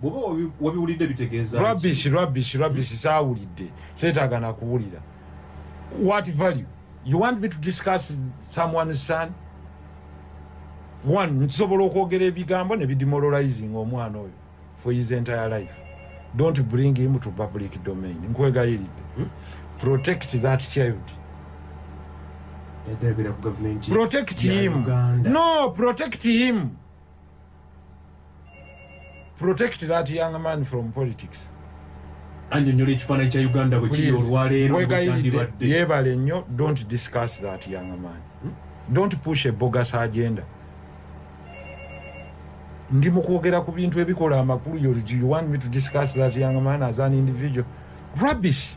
bwoba wabiwulidde bitegeeza rubbish rubbish rubbish saawulidde seetaaga nakuwulira what value you want me to discuss someone's son one nkisobola okwogera ebigambo ne bidemoralizing omwana oyo for his entire life don't bring him to public domain nkwegayiridde hmm? protect that child protect him no protect him protect that young man from politics annyonnyola ekifaananyi kya uganda bwe kiri olwaleero bwekyandibadde yeebale nnyo don't discuss that young man hmm? don't push a bogus agenda ndi mu kwogera ku bintu ebikola amakulu you want me to discuss that young man as an individual rubbish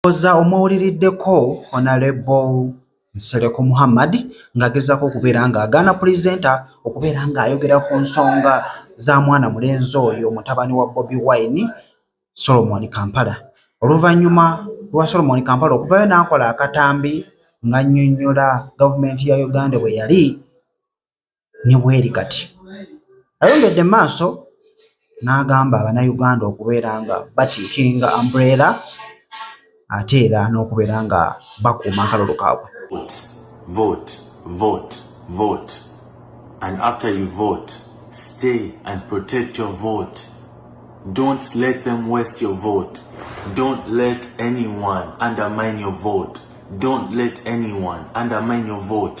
Ndowooza omuwuliriddeko Honalebo Nsereko Muhammad ng'agezaako okubeera ng'agaana pulezidenti okubeera ng'ayogera ku nsonga za mwana mulenzi oyo mutabani wa Bobi Wine, Solomon Kampala. Oluvannyuma lwa Solomon Kampala okuvayo n'akola akatambi ng'annyonnyola gavumenti ya Uganda bwe yali ne bweri kati. Ayongedde mu maaso n'agamba Bannayuganda okubeera nga batiikinga umbrella ate era n'okubeera nga bakuuma akalulu kaabwe. Vote, vote, vote. And after you vote, stay and protect your vote. Don't let them waste your vote. Don't let anyone undermine your vote. Don't let anyone undermine your vote.